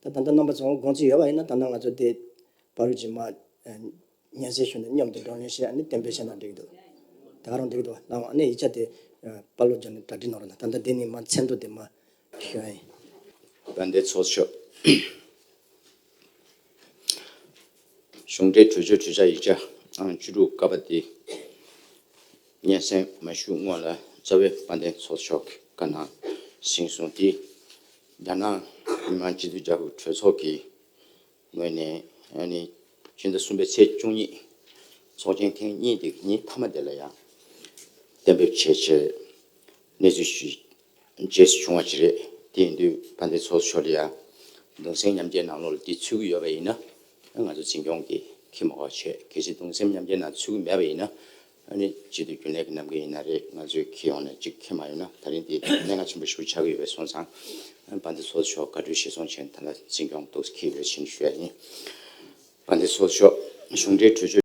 ད་ལྟ་རྣམ་པ་ཚོ་དགོངས་ཚུལ་ཡོད་པ་ཡིན་ན་ད་ལྟ་ང་ཚོ་དེ་བ་རུ་ཇི་མ་ཉན་སའི་ཤུལ་ནས་སྙོམས་ཏེ་འགྲོ་ཉོན་ཞེས་ནི་གཏན་འབེབས་བྱས་ན་འགྲིག་འདུག་ད་རུང་འགྲིག་འདུག་བ་ལའང་ནི་ཡིག་ཆ་དེ་པར་ལོ་སྦྱར་ནས་གྲ་སྒྲིག་གནང་རོགས་གནང་ད་ལྟ་དེ་ནི་མ་མཚན་འདུག་དེ་མ་ཞོན། དགའ་ལྡན་ཚོགས་མཆོག། གཞུང་འབྲེལ་གྲོས་ཆོད་གྲོས་འཆར་ཡིག་ཆ་ཨང་བཅུ་དྲུག་བཀའ་པ་དེ་སྙན་སེང་མ་ཞུས་སྔོན་ལ་རྩ་བའི་དཔལ་ལྡན་ཚོགས་མཆོག་གིས་བཀའ་གནང་ཟིན་སོང་དེའི་རྒྱ་ནག་མི་དམངས་སྤྱི་མཐུན་རྒྱལ་ཁབ་གྲོས་ཚོགས་ཀྱི་ངོས་ནས་ཕྱི་ཟླ་གསུམ་པའི་ཚེས་བཅུ་ཉིན་ཚོགས་ཆེན་ཐེངས་གཉིས་འདི་ཉིན་མཐའ་མ་དེ་ལ་ཡང་གཏན་འབེབས་བྱས་ཕྱིར། གནས་ཚུལ་ཞིག་རྗེས་སུ་བྱུང་བ་ཞིག་རེད། དེ་ཡིན་དུས་ཕ་མཐའི་ཚོགས་གཙོ་མཆོག་ལ་ཡང་གདུང་སེམས་མཉམ་སྐྱེའི་ནང་ལོགས་འདི་ཚུད་ཀྱི་ཡོད་པ་ཡིན་ན་ང་ཚོ་འཛིན་སྐྱོང་གིས་ཁས་མ་བ་ཆེད་གལ་སྲིད་གདུང་སེམས་མཉམ་སྐྱེའི་ནང་ཚུད་ཀྱི་མེད་པ་ཡིན་ན་ཨ་ནི་བྱེད་དུ་རྒྱུ་ལས་ཀྱི་གནམ་གིང་ཡིན་ན་རེད་ང་ཚོས་ཁྱེད་ཡོང་ནས་གཅིག་ཁྱེར་མ་ཡོང་ན་ད་རིང་འདི་གནད་འགག་ཆེན་པོ་ཞིག་ཏུ་ཆགས་ཀྱི་ཡོད་པས་སོང་ཙང་པ་འདི་ཚོ་ཆོག་དགའ་སྤྲོའི་ཞལ་སོང་ཆེན་ད་ལ་འཛིན་སྐྱོང་གཏུགས་ཁྱི་ཡོད་ཕྱིན་ཞུ་ཡ་ཡིན་པ་འདི་ཚོ་ཆོག་གཞུང་འབྲེལ་གྲོས་ཆོད།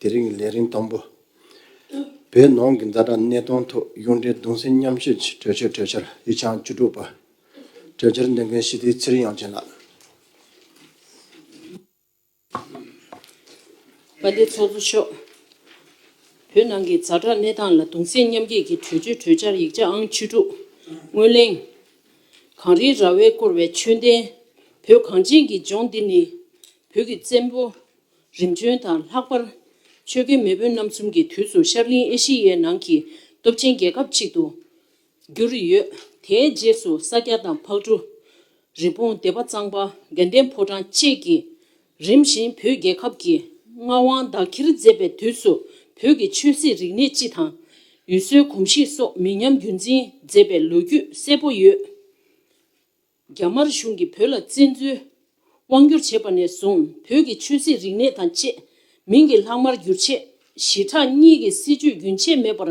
དེ་རིང་གི་ལས་རིམ་དང་པོ། བོད་ནང་གི་འཛའ་དྲག་གནས་སྟངས་ཐོག་གཡུང་དྲུང་གདུང་སེམས་མཉམ་སྐྱེད་ཀྱི་གྲོས་ཆོད་གྲོས་འཆར་དབྱི་ཆང་བཅུ་དྲུག་པ། གྲོས་འཆར་འདོན་མཁན་ཞི་བདེའི་ཚེ་རིང་དབྱངས་ཅན་ལགས། པ་ལས་ཚོགས་གཙོ་མཆོག། བོད་ནང་གི་འཛའ་དྲག་གནས་སྟངས་ལ་གདུང་སེམས་མཉམ་སྐྱེད་ཀྱི་གྲོས་ཆོད་གྲོས་འཆར་ཡིག་ཆ་ཨང་བཅུ་དྲུག། སྔོན་གླེང། གངས་རིའི་ར་བས་བསྐོར་བའི་ཆོས་ལྡན་བོད་གངས་ཅན་གྱི་ལྗོངས་འདི་ནི། བོད་ཀྱི་བཙན་པོ། རིམ་བྱོན་དང་ལྷག་པར། ཆོས་རྒྱལ་མེས་དབོན་རྣམ་གསུམ་གྱི་དུས་སུ་ཤར་གླིང་ཨེ་ཤི་ཡའི་ནང་གི་སྟོབས་ཆེན་རྒྱལ་ཁབ་ཅིག་ཏུ་གྱུར་ཡོད། དེའི་རྗེས་སུ་ས་སྐྱ་དང་ཕག་གྲུ། རི་བོང་སྡེ་པ་གཙང་པ་དགེ་ལྡན་ཕོ་བྲང་བཅས་ཀྱིས་རིམ་བཞིན་བོད་རྒྱལ་ཁབ་ཀྱི་མངའ་དབང་བདག་ཁྱེར་མཛད་པའི་དུས་སུ་བོད་ཀྱི་ཆོས་སྲིད་རིག་གནས་སྤྱི་དང། ཡུལ་སྲོལ་གོམས་གཤིས་སོགས་མི་ཉམས་རྒྱུན་འཛིན་མཛད་པའི་ལོ་རྒྱུས་གསལ་པོ་ཡོད། རྒྱ་དམར་གཞུང་གིས་བོད་ལ་བཙན་འཛུལ་དབང་བསྒྱུར་བྱས་པ་ནས་བཟུང་བོད་ཀྱི་ཆོས་སྲིད་རིག་གནས་དང་བཅས་མིང་གི་ལྷག་མར་བསྒྱུར་ཆེད་ཞི་དྲག་གཉིས་ཀྱི་སྲིད་ཇུས་རྒྱུན་ཆད་མེད་པར་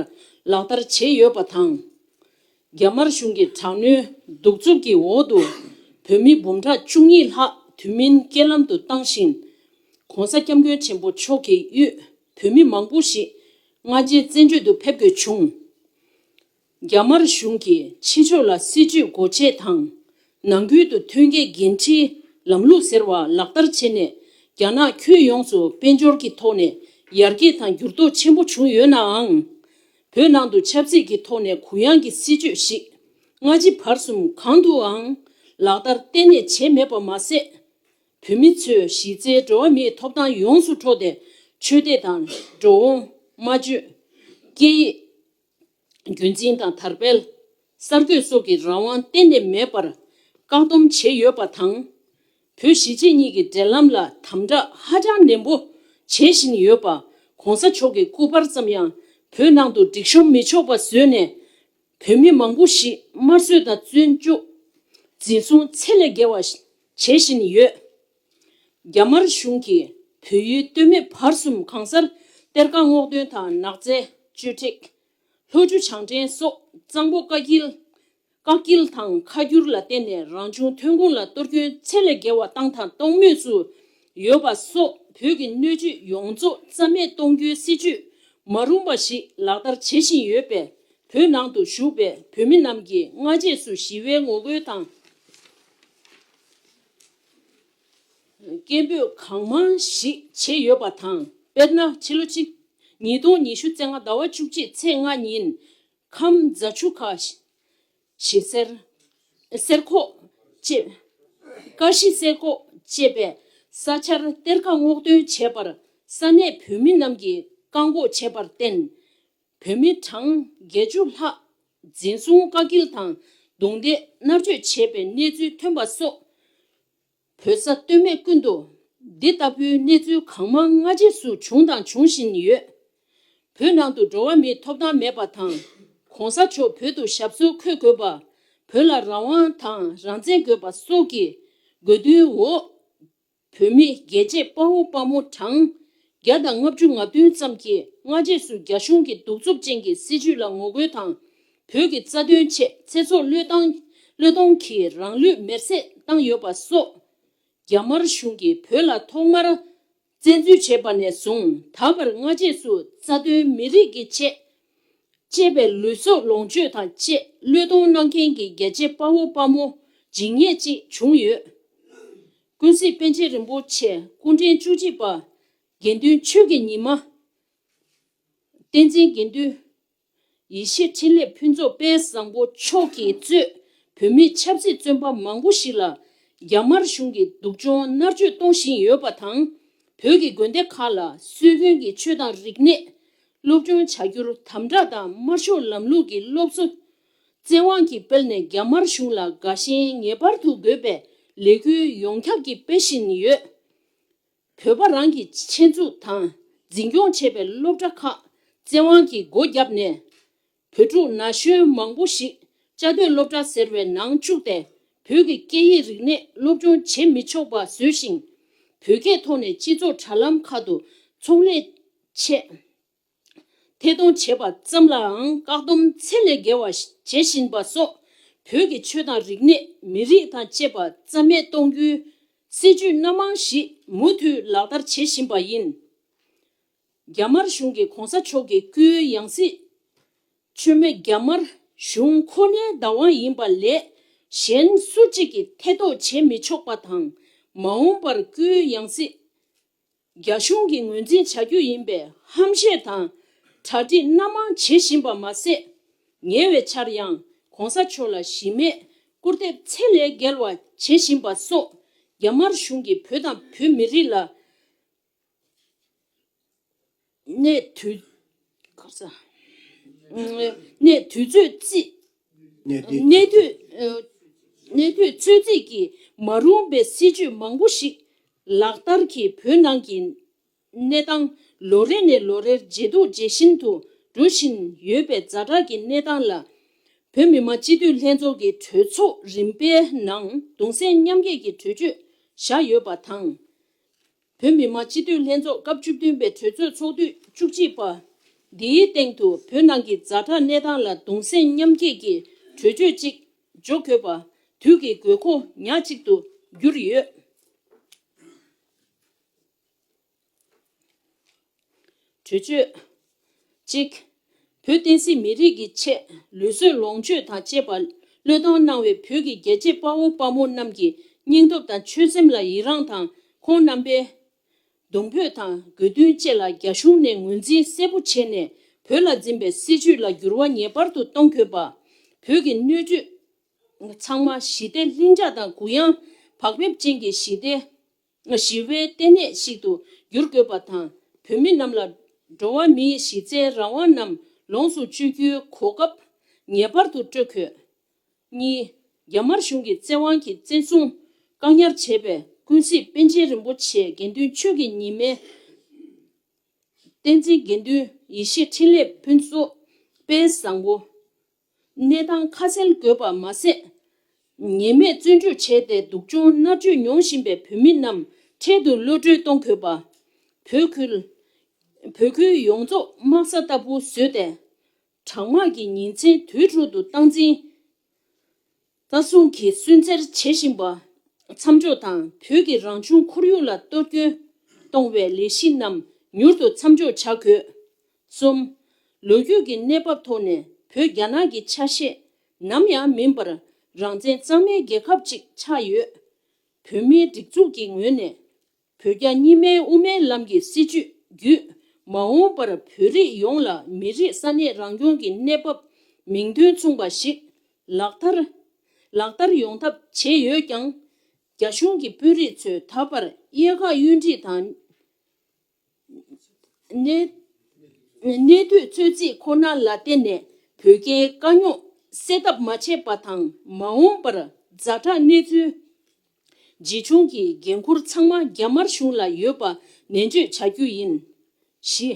ལག་བསྟར་བྱས་ཡོད་པ་དང། རྒྱ་དམར་གཞུང་གི་དྲག་གནོན་གདུག་རྩུབ་ཀྱི་འོག་ཏུ་བོད་མི་འབུམ་ཕྲག་བཅུ་གཉིས་ལྷག་དུས་མིན་རྐྱེན་ལམ་དུ་བཏང་ཞིང། ྋགོང་ས ྋསྐྱབས་མགོན་ཆེན་པོ་མཆོག་གི་གཡུལ་བོད་མི་མང་པོ་ཞིག་མངའ་རྗེའི་བཙན་བྱོལ་དུ་ཕེབས་དགོས་བྱུང། རྒྱ་དམར་གཞུང་གིས་ཕྱི་ཕྱོགས་ལ་སྲིད་ཇུས་སྒོ་འབྱེད་དང། ནང་ཁུལ་དུ་ཐོན་སྐྱེད་འགན་འཁྲིའི་ལམ་ལུགས་ཟེར་བ་ལག་བསྟར་བྱས་ནས་རྒྱ་ནག་ཁྱོན་ཡོངས་སུ་དཔལ་འབྱོར་གྱི་ཐོག་ནས་ཡར་རྒྱས་དང་འགྱུར་ལྡོག་ཆེན་པོ་བྱུང་ཡོད་ནའང། བོད་ནང་དུ་ཆབ་སྲིད་ཀྱི་ཐོག་ནས་གུ་ཡངས་ཀྱི་སྲིད་ཇུས་ཤིག་སྔ་ཕྱི་བར་གསུམ་གང་དུའང་ལག་བསྟར་གཏན་ནས་བྱས་མེད་པར་མ་ཟད། བོད་མི་ཚོས་གཞི་རྩའི་འགྲོ་བ་མིའི་ཐོབ་ཐང་ཡོངས་སུ་འཕྲོག་སྟེ་ཆོས་དད་དང་འགྲོ་འོང། སྨྲ་བརྗོད། སྐད་ཡིག། རྒྱུན་འཛིན་དང་དར་སྤེལ། གསར་གཏོད་སོགས་ཀྱི་རང་དབང་གཏན་ནས་མེད་པར་བཀག་སྡོམ་བྱས་ཡོད་པ་དང། བོད་གཞིས་བྱེས་གཉིས་ཀྱི་འབྲེལ་ལམ་ལ་དམ་དྲག་ཧ་ཅང་ནན་པོ་བྱེད་བཞིན་ཡོད་པ ྋགོང་ས་མཆོག་གི་སྐུ་པར་ཙམ་ཡང་བོད་ནང་དུ་སྒྲིག་ཤོམ་མི་ཆོག་པ་བཟོས་ནས། བོད་མི་མང་པོ་ཞིག་དམར་གསོད་དང་བཙོན་འཇུག། འཛིན་བཟུང་ཚད་ལས་བརྒལ་བ་བྱེད་བཞིན་ཡོད། རྒྱ་དམར་གཞུང་གིས་བོད་ཡུལ་སྟོད་སྨད་བར་གསུམ་གང་སར་གཏེར་ཁ་སྔོག་འདོན་དང་ནགས་ཚལ་གཅོད་འབྲེག། ལྷོ་ཆུ་བྱང་འདྲེན་སོགས་གཙང་པོ་བཀའ་སྐྱིལ། བཀག་སྐྱིལ་དང་ཁ་བསྒྱུར་ལ་བརྟེན་ནས་རང་བྱུང་ཐོན་ཁུངས་ལ་གཏོར་སྐྱོན་ཚད་ལས་བརྒལ་བ་བཏང་དང་གཏོང་མུས་སུ་ཡོད་པ་སོགས་བོད་ཀྱི་སྣོད་བཅུད་ཡོངས་རྫོགས་རྩ་མེད་གཏོང་རྒྱུའི་སྲིད་ཇུས་མ་རུང་པ་ཞིག་ལག་བསྟར་བྱེད་བཞིན་ཡོད་པས་བོད་ནང་དུ་བཞུགས་པའི་བོད་མི་རྣམས་ཀྱིས་སྔ་རྗེས་སུ་ཞི་བའི་ངོ་རྒོལ་དང། སྐད་འབོད་གང་མང་ཞིག་བྱས་ཡོད་པ་དང་དཔེར་ན་ཕྱི་ལོ་གཅིག་ཉིས་སྟོང་ཉི་ཤུ་ཚེ་ལྔ་ཟླ་བ་བཅུ་གཅིག་ཚེས་ལྔ་ཉིན་ཁམས་རྫ་ཆུ་ཁ་ཤི་གསེར་གསེར་ཁོག་ཅེས་ཀ་ཤི་གསེར་ཁོག་ཅེས་པའི་ས་ཆར་གཏེར་ཁ་སྔོག་འདོན་བྱས་པར་ས་གནས་བོད་མི་རྣམས་ཀྱིས་བཀག་འགོག་བྱས་པར་བརྟེན། བོད་མི་གྲངས་བརྒྱད་ཅུ་ལྷག་འཛིན་བཟུང་བཀག་སྐྱིལ་དང་རྡུང་རྡེག་མནར་གཅོད་བྱས་པའི་གནས་ཚུལ་ཐོན་པ་སོགས་བོད་ས་སྟོད་སྨད་ཀུན་ཏུ་འདི་ལྟ་བུའི་གནས་ཚུལ་གང་མང་སྔ་རྗེས་སུ་བྱུང་དང་འབྱུང་བཞིན་ཡོད། བོད་ནང་དུ་འགྲོ་བ་མིའི་ཐོབ་ཐང་མེད་པ་དང་གོང་ས་མཆོག་བོད་དུ་ཞབས་སོར་འཁོད་དགོས་པ། བོད་ལ་རང་དབང་དང་རང་བཙན་དགོས་པ་སོགས་ཀྱི་དགོས་འདུན་འོག་བུད་མེད་རྒྱལ་གཅེས་དཔའ་བོ་དཔའ་མོ་གྲངས་བརྒྱ་དང་ལྔ་བཅུ་ང་བདུན་ཙམ་གྱིས་སྔ་རྗེས་སུ་རྒྱ་གཞུང་གི་གདུག་རྩུབ་ཅན་གྱི་སྲིད་བྱུས་ལ་ངོ་རྒོལ་དང། བོད་ཀྱི་རྩ་དོན་ཆེད་ཚེ་སྲོག་བློས་བཏང་བློས་གཏོང་གིས་རང་ལུས་མེར་བསྲེགས་བཏང་ཡོད་པ་སོགས། རྒྱ་དམར་གཞུང་གིས་བོད་ལ་ཐོག་མར་བཙན་འཛུལ་བྱས་པ་ནས་བཟུང་ད་བར་སྔ་རྗེས་སུ་རྩ་དོན་མི་རིགས་ཀྱི་ཆེད་བཅས་པའི་ལུས་སྲོག་ལོངས་སྤྱོད་དང་བཅས་བློས་གཏོང་གནང་མཁན་གྱི་རྒྱལ་གཅེས་དཔའ་བོ་དཔའ་མོ་འཇིགས་ཉེས་ཅིག་བྱུང་ཡོད། ཀུན་གཟིགས་དཔལ་ཆེན་རིན་པོ་ཆེ་སྐུ་ཕྲེང་བཅུ་གཅིག་པ་དགེ་འདུན་ཆོས་ཀྱི་ཉི་མ། བསྟན་འཛིན་དགེ་འདུན། ཡེ་ཤེས་འཕྲིན་ལས་ཕུན་ཚོགས་དཔལ་བཟང་པོ་མཆོག་གིས་གཙོས་བོད་མིའི་ཆབ་སྲིད་བཙོན་པ་མང་པོ་ཞིག་ལ་རྒྱ་དམར་གཞུང་གིས་སྡུག་སྦྱོང་མནར་གཅོད་གཏོང་བཞིན་ཡོད་པ་དང། བོད་ཀྱི་དགོན་སྡེ་ཁག་ལ་སྲོལ་རྒྱུན་གྱི་ཆོས་དང་རིག་གནས། སློབ་སྦྱོང་བྱ་རྒྱུར་དམ་དྲག་དང་དམར་ཤོག་ལམ་ལུགས་ཀྱི་སློབ་གསོ་བཙན་དབང་གིས་སྤེལ་ནས་རྒྱ་དམར་གཞུང་ལ་དགའ་ཞེན་ངེས་པར་དུ་དགོས་པའི་ལས་འགུལ་ཡོངས་ཁྱབ་ཀྱིས་སྤེལ་བཞིན་ཡོད། བོད་པ་རང་གི་ཆེད་འཛུགས་དང་འཛིན་སྐྱོང་བྱས་པའི་སློབ་གྲྭ་ཁག་བཙན་དབང་གིས་སྒོ་བརྒྱབ་ནས། བོད་ཕྲུག་ན་གཞོན་མང་པོ་ཞིག་བཅའ་སྡོད་སློབ་གྲྭ་ཟེར་བའི་ནང་བཅུག་སྟེ་བོད་ཀྱི་སྐད་ཡིག་རིག་གནས་སློབ་སྦྱོང་བྱེད་མི་ཆོག་པ་བཟོས་ཤིང། བོད་སྐད་ཐོག་ནས་སྤྱི་ཚོགས་དྲ་ལམ་ཁག་ཏུ་ཚོང་ལས་ཆེད་ཐད་གཏོང་བྱེད་པ་ཙམ་ལའང་བཀག་སྡོམ་ཚད་ལས་བརྒལ་བ་བྱེད་བཞིན་པ་སོགས་བོད་ཀྱི་ཆོས་དང་རིག་གནས་མི་རིགས་དང་བཅས་པ་རྩ་མེད་གཏོང་རྒྱུའི་སྲིད་ཇུས་སྣ་མང་ཞིག་མུ་མཐུད་ལག་བསྟར་བྱེད་བཞིན་པ་ཡིན། རྒྱ་དམར་གཞུང་གིས་གོང་ས་མཆོག་གི་སྐུའི་ཡང་སྲིད། མཆོད་མེ་རྒྱ་དམར་གཞུང་ཁོ་ནའི་བདག་དབང་ཡིན་པ་ལས་གཞན་སུ་གཅིག་གིས་ཐེ་གཏོགས་བྱེད་མི་ཆོག་པ་དང་མ་འོངས་པར་སྐུའི་ཡང་སྲིད། རྒྱ་གཞུང་གིས་ངོས་འཛིན་བྱ་རྒྱུ་ཡིན་པའི་ཧམ་བཤད་དང་གྲ་སྒྲིག་སྣ་མང་བྱེད་བཞིན་པ་མ་ཟད། ཉེ་བའི་ཆར་ཡང་གོང་ས་མཆོག་ལ་གཞི་མེད་སྐུར་འདེབས་ཚད་ལས་བརྒལ་བ་བྱེད་བཞིན་པ་སོགས་རྒྱ་དམར་གཞུང་གིས་བོད་དང་བོད་མི་རིགས་ལ། གནས་དུས་གནས་དུས་ཚོད་རྩིས། གནས་དུས་གནས་དུས་གནས་དུས་ཚོད་རྩིས་ཀྱི་མ་རུང་པའི་སྲིད་ཇུས་མང་པོ་ཞིག་ལག་བསྟར་གྱིས་བོད་ནང་གི་གནས་སྟངས་ལོ་རེ་ནས་ལོ་རེར་ཇེ་སྡུག་ཇེ་ཞན་དུ་འགྲོ་བཞིན་ཡོད་པའི་རྫ་དྲག་གི་གནས་སྟངས་ལ། བོད་མི་མང་སྤྱི་འཐུས་ལྷན་ཚོགས་ཀྱི་གྲོས་ཚོགས་རིམ་པའི་ནང་གདུང་སེམས་མཉམ་སྐྱེད་ཀྱི་གྲོས་ཆོད་བཞག་ཡོད་པ་དང། བོད་མི་མང་སྤྱི་འཐུས་ལྷན་ཚོགས་སྐབས་བཅུ་བདུན་པའི་གྲོས་ཚོགས་ཚོགས་དུས་བཅུ་གཅིག་པ། འདིའི་སྟེང་དུ་བོད་ནང་གི་རྫ་དྲག་གནས་སྟངས་ལ་གདུང་སེམས་མཉམ་བསྐྱེད་ཀྱི་གྲོས་ཆོད་ཅིག་འཇོག་དགོས་པ་དུས་ཀྱི་དགོས་མཁོ་ཉག་གཅིག་ཏུ་གྱུར་ཡོད། གྲོས་ཆོད། གཅིག། བོད་བསྟན་སྲིད་མི་རིགས་ཀྱི་ཆེད་ལུས་སྲོལ་ལོངས་སྤྱོད་དང་བཅས་པ་བློས་བཏང་གནང་བའི་བོད་ཀྱི་རྒྱལ་གཅེས་དཔའ་བོ་དཔའ་མོ་རྣམས་ཀྱི་སྙིང་སྟོབས་དང་ཆོད་སེམས་ལ་ཡི་རངས་དང་ཁོང་རྣམ་པའི་གདུང་འབོད་དང་དགོས་འདུན་བཅས་ལ་རྒྱ་གཞུང་ནས་ངོས་འཛིན་གསལ་པོ་བྱས་ནས་བོད་ལ་འཛིན་པའི་སྲིད་བྱུས་ལ་འགྱུར་བ་ངེས་པར་དུ་གཏོང་དགོས་པ། བོད་ཀྱི་སྣོད་བཅུད་ཚང་མ་ཞི་བདེ་ལྷིང་འཇགས་དང་གུ་ཡངས་བག་ཕེབས་ཅན་གྱི་ཞི་བདེ། སྔ་ཞི་བའི་ལྟེ་གནས་ཤིག་ཏུ་བསྒྱུར་དགོས་པ་དང་བོད་མི་རྣམས་ལ་འགྲོ་བ་མིའི་གཞི་རྩའི་རང་དབང་རྣམས་ལོངས་སུ་སྤྱོད་རྒྱུའི་གོ་སྐབས་ངེས་པར་དུ་སྤྲོད་དགོས། གཉིས། རྒྱ་དམར་གཞུང་གི་བཙན་དབང་གིས་བཙན་བཟུང་བཀག་ཉར་བྱས་པའི་ཀུན་གཟིགས་དཔལ་ཆེན་རིན་པོ་ཆེ་དགེ་འདུན་ཆོས་ཀྱི་ཉི་མའི་བསྟན་འཛིན་དགེ་འདུན་ཡེ་ཤེས་འཕྲིན་ལས་ཕུན་ཚོགས་དཔལ་བཟང་པོ། གནས་སྟངས་ཁ་གསལ་དགོས་པར་མ་ཟད། ཉེས་མེད་བཙོན་འཇུག་བྱས་ཏེ་སྡུག་སྦྱོང་མནར་གཅོད་མྱོང་བཞིན་པའི་བོད་མི་རྣམས་འཕྲལ་དུ་གློད་བཀྲོལ་གཏོང་དགོས་པ། བོད་ཁུལ། བོད་ཁུལ་ཡོངས་རྫོགས་དམག་ས་ལྟ་བུ་བཟོས་ཏེ། དྲག་དམག་གི་ཉིན་མཚན་དུས་དྲུག་ཏུ་སྟངས་འཛིན། ལྟ་སྲུང་གིས་སུན་གཙེར་བྱེད་བཞིན་པ་མཚམས་འཇོག་དང་བོད་ཀྱི་རང་བྱུང་ཁོར་ཡུག་ལ་གཏོར་སྐྱོན་གཏོང་བའི་ལས་གཞི་རྣམས་མྱུར་དུ་མཚམས་འཇོག་བྱ་དགོས། གསུམ། ལོ་རྒྱུས་ཀྱི་གནས་བབ་ཐོག་ནས་བོད་རྒྱ་ནག་གི་ཆ་ཤས་ནམ་ཡང་མིན་པར་རང་བཙན་གཙང་མའི་རྒྱལ་ཁབ་ཅིག་ཆགས་ཡོད། བོད་མིའི་སྒྲིག་འཛུགས་ཀྱི་ངོས་ནས་བོད་རྒྱ་གཉིས་མའི་དབུ་མའི་ལམ་གྱི་སྲིད་བྱུས་བརྒྱུད། མ་འོངས་པར་བོད་རིགས་ཡོངས་ལ་མི་རིགས་ས་གནས་རང་སྐྱོང་གི་གནས་བབ་མིང་དོན་མཚུངས་པ་ཞིག་ལག་བསྟར། ལག་བསྟར་ཡོང་ཐབས་བྱས་ཡོད་ཀྱང། རྒྱ་གཞུང་གི་དཔོན་རིགས་ཚོས་ད་བར་གཡས་ཁ་གཡོན་འཁྲིད་དང། གནས་དུས་ཚོད་རྩིས་ཁོ་ན་ལ་བརྟེན་ནས་བོད་རྒྱའི་དཀའ་རྙོག་སེལ་ཐབས་མ་བྱས་པ་དང་མ་འོངས་པར་རྫ་དྲག་གནས་ཚུལ་ཇི་བྱུང་གི་འགན་ཁུར་ཚང་མ་རྒྱ་དམར་གཞུང་ལ་ཡོད་པ་ནན་བརྗོད་བྱ་རྒྱུ་ཡིན། བཞི།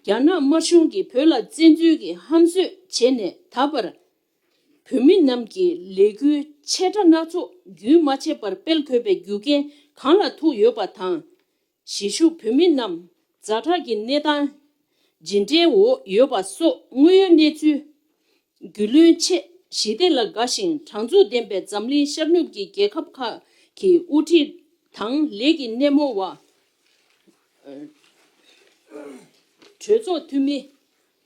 རྒྱ་ནག་དམར་གཞུང་གིས་བོད་ལ་བཙན་འཛུལ་གྱི་ཧམ་བཟོས་བྱས་ནས་ད་བར་བོད་མི་རྣམས་ཀྱི་ལས་འགུལ་ཆེ་ཕྲ་སྣ་ཚོགས་རྒྱུན་མ་ཆད་པར་སྤེལ་དགོས་པའི་རྒྱུ་རྐྱེན་གང་ལ་ཐུག་ཡོད་པ་དང། གཞིས་བཞུགས་བོད་མི་རྣམས་རྫ་དྲག་གི་གནས་སྟངས་ཇི་འདྲའི་འོག་ཡོད་པ་སོགས་དངོས་ཡོད་གནས་ཚུལ། རྒྱུས་ལོན་ཆེད་ཞི་བདེ་ལ་དགའ་ཞིང་དྲང་ཚུགས་ལྡན་པའི་འཛམ་གླིང་ཤར་ནུབ་ཀྱི་རྒྱལ་ཁབ་ཁག་གི་དབུ་ཁྲིད་དང་ལས་ཀྱི་སྣེ་མོ་བ། གྲོས་ཚོགས་འཐུས་མི།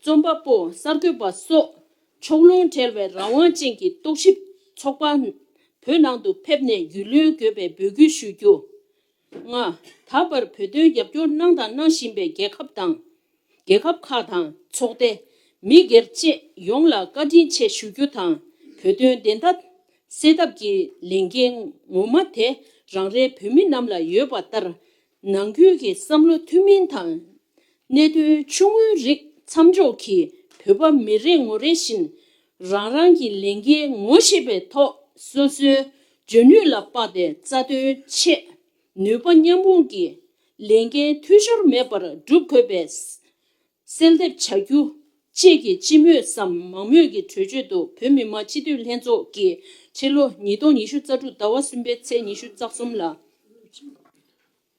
རྩོམ་པ་པོ་གསར་འགོད་པ་སོགས་ཕྱོགས་ལྷུང་བྲལ་བའི་རང་དབང་ཅན་གྱི་རྟོག་ཞིབ་ཚོགས་པ་བོད་ནང་དུ་ཕེབས་ནས་རྒྱུས་ལོན་དགོས་པའི་འབོད་སྐུལ་ཞུ་རྒྱུ། ལྔ། ད་བར་བོད་དོན་རྒྱབ་སྐྱོར་གནང་དང་གནང་བཞིན་པའི་རྒྱལ་ཁབ་དང། རྒྱལ་ཁབ་ཁག་དང་ཚོགས་སྡེ། མི་སྒེར་བཅས་ཡོངས་ལ་བཀའ་དྲིན་ཆེ་ཞུ་རྒྱུ་དང་བོད་དོན་བདེན་མཐའ་གསལ་ཐབས་ཀྱི་ལས་འགན་ངོ་མ་དེ་རང་རེ་བོད་མི་རྣམས་ལ་ཡོད་པ་ལྟར། ནང་ཁུལ་གྱི་བསམ་བློ་ཐུན་མིན་དང། གནད་དོན་ཆུང་ངུའི་རིགས་མཚམས་འཇོག་གིས་བོད་པ་མི་རེ་ངོ་རེ་བཞིན་རང་རང་གི་ལས་འགན་ངོ་ཤེས་པའི་ཐོག་སོ་སོའི་འཇོན་ནུས་ལ་དཔགས་ཏེ་རྩ་དོན་ཆེད་ནུས་པ་མཉམ་སྤུངས་ཀྱིས་ལས་འགན་འཐུས་ཤོར་མེད་པར་སྒྲུབ་དགོས་པའི་གསལ་འདེབས་བྱ་རྒྱུ་བཅས་ཀྱི་སྤྱི་མོས་སམ་མང་མོས་ཀྱི་གྲོས་ཆོད་དུ་བོད་མི་མང་སྤྱི་འཐུས་ལྷན་ཚོགས་ཀྱིས་ཕྱི་ལོ་ཉིས་སྟོང་ཉི་ཤུ་རྩ་དྲུག་ཟླ་བ་གསུམ་པའི་ཚེས་ཉི་ཤུ་རྩ་གསུམ་ལ།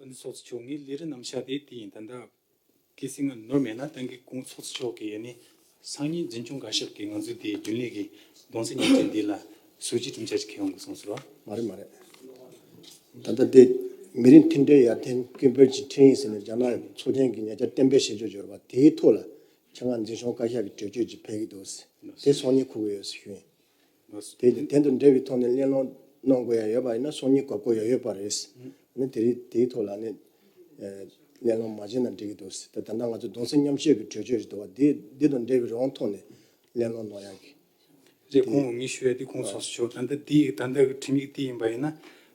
ཨ་ནི་ཚོགས་གཙོ་མཆོག་ངའི་ལས་རིགས་རྣམས་ཤ་སྟེ་དེ་ཡིན་ད་ལྟ་གི་སྲིད་ང་ནོར་མེད་ན་ཏང་གི་དགུང་ཚོགས་གཙོ་མཆོག་གིས་ཨ་ནི་སང་ཉིན་འཛིན་སྐྱོང་འགའ་ཞིག་གིས་ང་ཚོའི་དེའི་རྒྱུན་ལས་ཀྱི་གདོང་ཚད་ཉིན་བྱེད་འདི་ལ་ཟུར་གྱིས་གྲུབ་འཆར་ཞིག་ཁེལ་ཡོང་དགོས་གསུངས་ཟེར་བ། མ་རེད་མ་རེད། ད་ལྟ་འདི་མི་རིགས་མཐུན་སྒྲིལ་ཡར་ཐོན་ཀུན་སྤེལ་གྱི་འཕྲིན་ཡིག་ཟེར་ནས་རྒྱ་ནག་ཚོགས་ཆེན་གྱི་ཉེ་ཆར་གཏན་འབེབས་བྱེད་ཕྱོགས་འབྱོར་བ་དེའི་ཐོག་ལ་ཁྱེད་རང་འཛིན་སྐྱོང་བཀའ་ཤག་གི་གྲོས་ཆོད་ཅིག་ཕེབས་ཀྱི་འདུག་ཟེར་དེ་སང་ཉིན་གོ་གི་ཡོད་ཟེར་ཞུས། དེ་ལས་དོན་དང་འབྲེལ་བའི་ཐོག་ནས་གླེང་སློང་གནང་དགོས་ཡ་ཡོད་པ་ཡིན་ན་སོང་ཉིན་གོ་བསྐོ་ཡ་ཡོད་པ་རེད། ནི་དེ་རིགས་དེའི་ཐོག་ལ་ནི། གླེང་སློང་མ་བྱས་ན་འགྲིག་གི་འདུག་ཟེར་ད་ལྟ་ང་ཚོ་གདུང་སེམས་མཉམ་བསྐྱེད་ཀྱི་གྲོས་ཆོད་རེད་འདུག་བ་དེ་དེ་དང་འབྲེལ་བའི་རང་དབང་ཐོག་ནས་གླེང་སློང་གནང་ཡ་གི། རེད་ཁོང་འོས་མི་ཞུ་ཡ་དེ་ཁོང་སོ་སོ་ཆོག་ད་ལྟ་དེ་ད་ལྟ་གི་ཁྲིམས་ཡིག་དེ་ཡིན་པ་ཡིན་ན།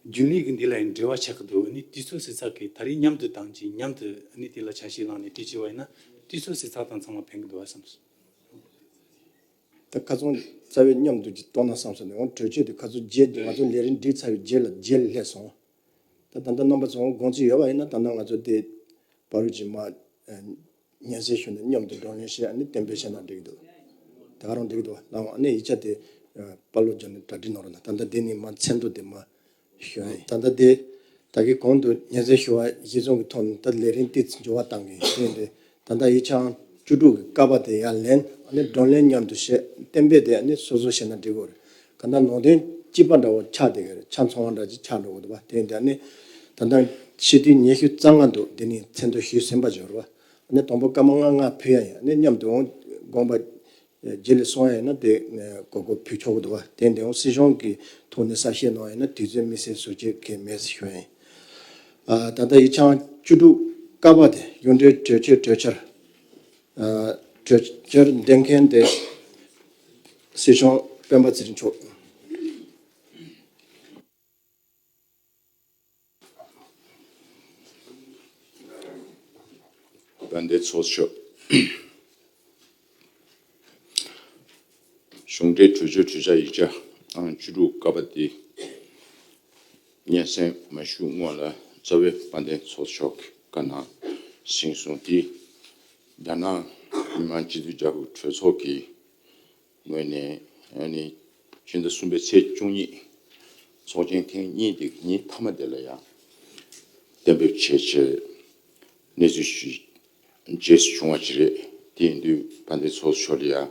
རྒྱུན་ལས་ཀྱི་འདི་ལ་ཡིན་འབྲེལ་བ་ཆགས་ཀྱི་འདུག་ནི་དུས་ཚོད་ཟིག་ཚགས་ཀྱིས་ད་རིས་མཉམ་དུ་དང་གཅིག་མཉམ་དུ་ནི་དེ་ལ་ཆ་ཤས་བླངས་ནས་དུས་བྱས་བ་ཡིན་ན་དུས་ཚོད་ཟིག་ཚགས་དང་ཚང་མ་ཕན་གྱི་འདུག་བ་བསམ་སོང། ད་ཁ་ཚོན་རྩ་བའི་མཉམ་དུ་ཀྱི་ལྟོ་ན་བསམ་སོང་ནས་འོང་གྲོས་ཆོད་དེ་ཁ་ཚོན་བརྒྱད་དེ་ང་ཚོ་ལས་རིན་བསྒྲིགས་ཚར་བའི་རྗེས་ལ་བརྗེད་སླད་སོང། ད་ད་ལྟ་རྣམ་པ་ཚོའང་དགོངས་ཚུལ་ཡོད་པ་ཡིན་ན་ད་ལྟ་ང་ཚོ་དེ་བ་རུ་ཅིག་མ་ཉན་སའི་ཞོར་ནས་མཉམ་དུ་འགྲོ་ཉོན་ཞེས་ཨ་ནི་གཏན་འབེབས་བྱས་ན་འགྲིག་འདུག་ད་ག་རང་འགྲིག་འདུག་ལའང་ཨ་ནི་ཡིག་ཆ་དེ་དཔའ་བློ་སྦྱོར་ནས་གྲ་སྒྲིག་གནང་རོགས་གནང་ད་ལྟ་འདི་ནི་མ་མཚན་ཐོ་དེ་མ་ཞུ་བ་ཡིན། ད་ལྟ་དེ་དག་གི་གོང་དུ་ཉེར་འཚེ་ཞུ་བ་གཞིས་བཟུང་གི་ཐོག་ནས་ད་ལེ་རིན་ཏིས་འབྱོར་བ་བཏང་གི་ཡོད་ཡིན། ད་ལྟ་ཡི་ཆའང་བཅུ་དྲུག་གི་ཀ་པ་དེ་ཡར་ལེན་སྒྲོན་ལེན་མཉམ་དུ་བྱེད་གཏན་འབེབས་དེ་སོ་སོ་བྱས་ན་འགྲིག་གི་རེད། ག་ད་ནང་དོན་སྐྱིད་པ་འདྲ་བོ་ཆགས་དེ་གི་རེད་ཆ་མཚུངས་བ་འདྲ་ཅིག་ཆགས་འགྲོ་གི་འདུག་བ་དེ་ཡིན། ད་ལྟ་ཕྱི་དུས་ཉི་ཤུ་རྩ་ལྔ་འདུག་དེ་ནས་མཚན་ཐོ་ཞུས་ཟིན་པ་འབྱོར་བ་དང་པོ་སྐར་མ་ལྔ་ལྔ་ཕུལ་ཡ་ཡིན། མཉམ་དུ་འོང་དགོངས་པ་རྗེས་ལས་སོང་ཡང་ན་དེ་གོ་དགོས་ཕུལ་ཆོག་གི་འདུག་དེ་འདི་འོང་སྲིད་གཞུང་གི་ཐོག་ནས་གསར་བཤད་གནང་ཡང་ན་དུས་ཚོད་མི་སེལ་ཟུར་བཅད་གི་མེད་ཟེར་ཞོར་ཡིན། ད་ལྟ་ཡིག་ཆའང་བཅུ་དྲུག་ཀ་བ་དེ་གཡུང་དྲུང་གྲོས་ཆོད་གྲོས་འཆར་གྲོས་འཆར་འདེམས་མཁན་དེ་སྲིད་གཞུང་སྤེན་པ་ཚེ་རིང་མཆོག་ཡིན། དཔལ་ལྡན་ཚོགས་མཆོད། གཞུང་འགྲེལ་གྲོལ་མཆོད་གྲོལ་ཆ་ཡིག་ཆ་ཨང་བཅུ་དྲུག་བཀའ་པ་འདི་སྙན་གསན་མ་བཞུགས་སྔོན་ལ་རྩ་བའི་དཔལ་ལྡན་ཚོགས་མཆོག་གི་བཀའ་གནང་ཞིང་གསུང་འདི་རྒྱ་ནག་མི་དམངས་སྤྱི་མཐུན་རྒྱལ་ཁབ་གྲོས་ཚོགས་ཀྱི་ངོས་ནས་ཕྱི་ཟླ་གསུམ་པའི་ཚེས་བཅུ་ཉིན་ཚོགས་ཆེན་ཐེངས་གཉིས་འདི་ཉིན་མཐའ་མ་དེ་ལ་ཡང་གཏན་འབེབས་བྱས་ཆེད་གནས་ཚུལ་ཞུས་རྗེས་སུ་བྱུང་བ་ཞིག་རེད། དེ་ཡིན་དུས་ཕ་མཐའི་ཚོགས་གཙོ་མཆོག་ལ་ཡང་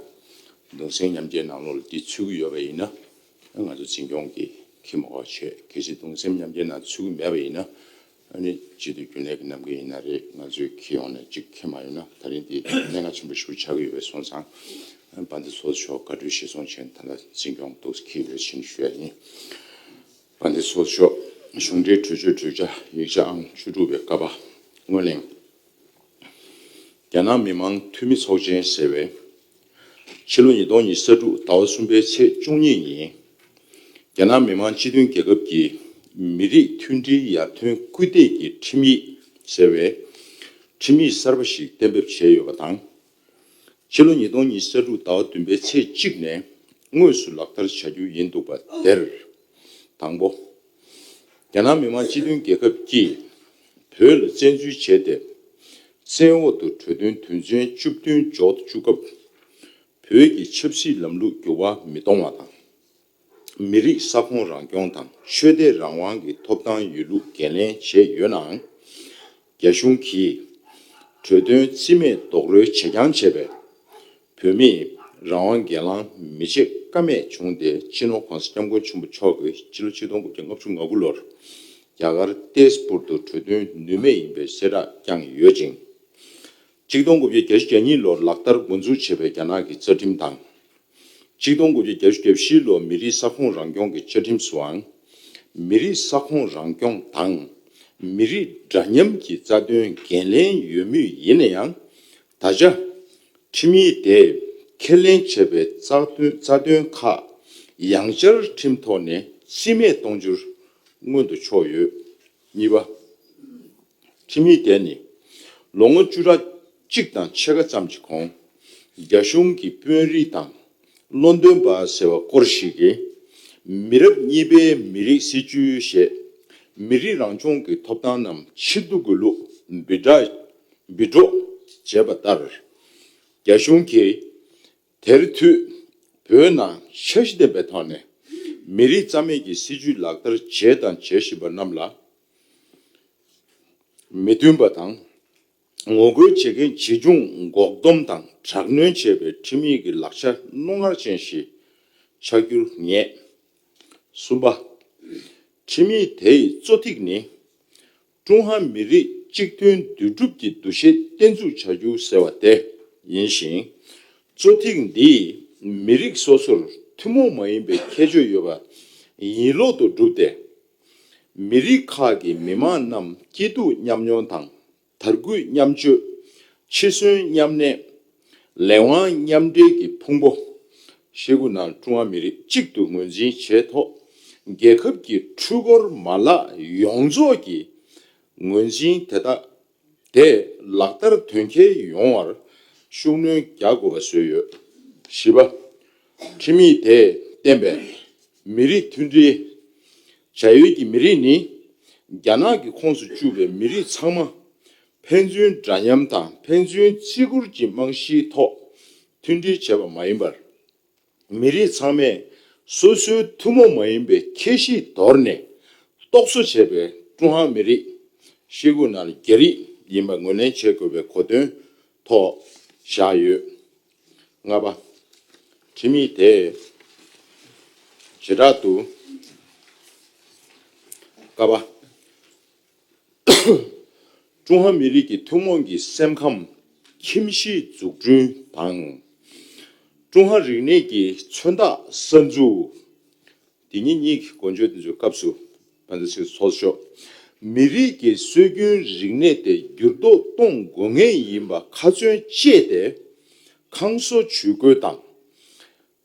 གདུང་སེམས་མཉམ་སྐྱེའི་ནང་ལོགས་ལ་དེ་ཚུད་ཀྱི་ཡོད་པ་ཡིན་ན་ང་ཚོ་འཛིན་སྐྱོང་གིས་ཁས་མི་བ་ཆེད་གལ་སྲིད་གདུང་སེམས་མཉམ་སྐྱེའི་ནང་ཚུད་ཀྱི་མེད་པ་ཡིན་ན་ཨ་ནི་ཅི་སྟེ་རྒྱུན་ལས་ཀྱི་ནམ་མཁའ་ཡིན་ན་རེད་ང་ཚོས་ཁྱེད་ཡོང་ནས་ཅིག་ཁྱེད་མ་ཡོང་ན་ད་རིང་འདི་སྙན་ངག་ཆེན་པོ་ཞིག་ཆགས་ཀྱི་ཡོད་པས་སོང་ཙང་པ་འདི་ཚོ་ཆོག་དགའ་སྤྲོའི་ཤི་སོང་ཆེན་ད་ལ་འཛིན་སྐྱོང་འདུག་ཁྱེད་ཀྱི་རེ་ཆེན་ཞུ་ཡ་ཡིན། པ་འདི་ཚོ་ཆོག་གཞུང་འབྲེལ་གྲོས་ཆོད་གྲོས་འཆར་ཡིག་ཆ་ཨང་བཅུ་དྲུག་པའི་ཀ་པ་དངོས་གླེང། རྒྱ་ནག་མི་མང་འཐུས་མི་ཚོགས་ཆེན་ཟེར་བས། ཕྱི་ལོ་ཉིས་སྟོང་ཉིས་ས་དྲུག་ཟླ་བ་གསུམ་པའི་ཚེས་བཅུ་གཉིས་ཉིན། རྒྱ་ནག་མི་མང་སྤྱི་མཐུན་རྒྱལ་ཁབ་ཀྱི་མི་རིགས་མཐུན་སྒྲིལ་ཡར་ཐོན་སྐུལ་འདེད་ཀྱི་ཁྲིམས་ཡིག་ཟེར་བའི་ཁྲིམས་ཡིག་གསར་པ་ཞིག་གཏན་འབེབས་བྱས་ཡོད་པ་དང། ཕྱི་ལོ་ཉིས་སྟོང་ཉིས་ས་དྲུག་ཟླ་བ་བདུན་པའི་ཚེས་གཅིག་ནས་དངོས་སུ་ལག་བསྟར་བྱ་རྒྱུ་ཡིན་འདུག་པ་དེར། དང་པོ། རྒྱ་ནག་མི་དམངས་སྤྱི་མཐུན་རྒྱལ་ཁབ་ཀྱིས་བོད་ལ་བཙན་འཛུལ་བྱས་ཏེ། བཙན་འོག་ཏུ་གྲོས་དོན་དོན་ཚན་བཅུ་བདུན་འཇོག་ཏུ་བཅུག་སྐབས། བོད་ཀྱི་ཆབ་སྲིད་ལམ་ལུགས་འགྱུར་བ་མི་གཏོང་བ་དང། མི་རིགས་ས་ཁོངས་རང་སྐྱོང་དང་ཆོས་དད་རང་དབང་གི་ཐོབ་ཐང་ཡོད་ལུགས་འགན་ལེན་བྱས་ཡོད་ནའང། རྒྱ་གཞུང་གིས་གྲོས་དོན་རྩིས་མེད་རྡོག་རོལ་བྱེད་རྐྱང་བྱས་པས། བོད་མིས་རང་དབང་སྒེར་ལངས་མི་བྱེད་ཀ་མེད་བྱུང་སྟེ་སྤྱི་ནོར ྋགོང་ས ྋསྐྱབས་མགོན་ཆེན་པོ་མཆོག་གིས་སྤྱི་ལོ་ཆིག་སྟོང་དགུ་བརྒྱ་ལྔ་བཅུ་ང་དགུ་ལོར་རྒྱ་གར་ཏེས་པུར་དུ་གྲོས་དོན་ནུས་མེད་ཡིན་པའི་གསལ་བསྒྲགས་བསྐྱངས་ཡོད་ཅིང། གཅིག་སྟོང་དགུ་བརྒྱ་གྱ་བཞི་གྱ་གཉིས་ལོར་ལག་བསྟར་འགོ་འཛུགས་བྱས་པའི་རྒྱ་ནག་གི་རྩ་ཁྲིམས་དང། གཅིག་སྟོང་དགུ་བརྒྱ་གྱ་བཞི་གྱ་བཞི་ལོར་མི་རིགས་ས་ཁོངས་རང་སྐྱོང་གི་བཅའ་ཁྲིམས་སུའང། མི་རིགས་ས་ཁོངས་རང་སྐྱོང་དང་མི་རིགས་འདྲ་མཉམ་གྱི་རྩ་དོན་འགན་ལེན་ཡོད་མུས་ཡིན་ན་ཡང། ད་ཆ། ཁྲིམས་ཡིག་དེས་ཁས་ལེན་བྱས་པའི་རྩ་དོན་ཁག་ཡང་བཅའ་ཁྲིམས་ཐོག་ནས་རྩིས་མེད་གཏོང་རྒྱུར་མངོན་དུ་ཕྱོགས་ཡོད། གཉིས་པ། ཁྲིམས་ཡིག་དེ་ནི་ལོ་ངོ་བཅུ་ཕྲག་གཅིག་དང་ཕྱེད་ཀ་ཙམ་གྱི་གོང་རྒྱ་གཞུང་གི་དཔོན་རིགས་དང་བློ་འདོན་པ་ཟེར་བ་སྐོར་ཞིག་གིས་མི་རབས་གཉིས་པའི་མི་རིགས་སྲིད་བྱུས་ཞེས་མི་རིགས་རང་སྐྱོང་གི་ཐོབ་ཐང་རྣམས་ཕྱིར་བསྡུ་དགོས་ལུགས་འབུལ་སྒྲོག་བྱས་པ་ལྟར་རྒྱ་གཞུང་གིས། དེར་མཐུད། བོད་ནང་འཆར་གཞི་ལྡན་པའི་ཐོག་ནས་མི་རིགས་རྩ་མེད་ཀྱི་སྲིད་བྱུས་ལག་བསྟར་བྱས་དང་བྱེད་བཞིན་པ་རྣམས་ལ་མི་མཐུན་པ་དང། ངོ་རྒོལ་བྱེད་མཁན་ཇི་བྱུང་འགོག་སྡོམ་དང་དྲག་གནོན་བྱེད་པའི་ཁྲིམས་ཡིག་གི་ལག་ཆ་རྣོ་ངར་ཅན་ཞིག་ཆགས་རྒྱུར་ངེས། གསུམ་པ། ཁྲིམས་ཡིག་དེའི་གཙོ་ཐིག་ནི། ཀྲུང་ཧྭ་མི་རིགས་གཅིག་མཐུན་འདུས་གྲུབ་ཀྱི་འདུ་ཤེས་བརྟན་ཚུགས་བྱ་རྒྱུ་ཟེར་བ་དེ་ཡིན་ཞིང། གཙོ་ཐིག་འདིས་མི་རིགས་སོ་སོར་ཐུན་མོང་མ་ཡིན་པའི་ཁྱད་ཆོས་ཡོད་པ་ཡིན་ལུགས་དུ་གྲུབ་སྟེ། མི་རིགས་ཁག་གི་མི་དམངས་རྣམས་སྐྱིད་སྡུག་མཉམ་མྱོང་དང་དར་རྒུད་མཉམ་སྤྱོད། འཆི་གསོན་མཉམ་གནས། ལས་དབང་མཉམ་འབྲེལ་གྱི་ཕུང་པོ་ཧྲིལ་པོ་ནང་ཀྲུང་ཧྭ་མི་རིགས་གཅིག་ཏུ་ངོས་འཛིན་བྱས་ཐོག་རྒྱལ་ཁབ་ཀྱི་འཕྲུལ་འཁོར་མ་ལག་ཡོངས་རྫོགས་ཀྱི་ངོས་འཛིན་དེ་དག་དེ་ལག་བསྟར་དོན་འཁྱོལ་ཡོང་བར་ཤུགས་སྣོན་རྒྱག་དགོས་པ་བཟོས་ཡོད། བཞི་པ། ཁྲིམས་ཡིག་དེས་བསྟན་པའི་མི་རིགས་མཐུན་སྒྲིལ། བྱ་ཡུལ་གྱི་མི་རིགས་ནི་རྒྱ་ནག་གི་ཁོངས་སུ་བཅུག་པའི་མི་རིགས་ཚང་མ་ཕན་ཚུན་འདྲ་མཉམ་དང་ཕན་ཚུན་བརྩི་བཀུར་གྱི་རྨང་གཞིའི་ཐོག་མཐུན་སྒྲིལ་བྱས་པ་མ་ཡིན་པར། མི་རིགས་ཚང་མས་སོ་སོའི་ཐུན་མོང་མ་ཡིན་པའི་ཁྱད་གཤིས་དོར་ནས་རྟོག་བཟོ་བྱས་པའི་ཀྲུང་ཧྭ་མི་རིགས་ཤེལ་སྒོ་ནར་རྒྱ་རིགས་ཡིན་པ་ངོས་ལེན་བྱེད་དགོས་པའི་གོ་དོན་ཐོག་བཞག་ཡོད། ལྔ་པ། ཁྲིམས་ཡིག་དེས་བྱེ་བྲག་ཏུ། ཀ་པ། ཀྲུང་ཧྭ་མི་རིགས་ཀྱི་ཐུན་མོང་གི་སེམས་ཁམས་ཁྱིམ་གཞིས་འཛུགས་སྐྲུན་དང། ཀྲུང་ཧྭ་རིག་གནས་ཀྱི་མཚོན་རྟགས་གསར་འཛུགས། དེ་ཉིད་གཉིས་ཀྱི་འགོ་འཇོག་དེ་ཚོའི་སྐབས་སུ་ཕན་ཐོགས་ཤིག་ཐོགས་ཆོག་མི་རིགས་ཀྱི་སྲོལ་རྒྱུན་རིག་གནས་དེ་འགྱུར་ལྡོག་གཏོང་དགོས་ངེས་ཡིན་པ་ཁ་ཚོན་བཅད་དེ་ཁང་གསོ་ཇུས་འགོད་དང།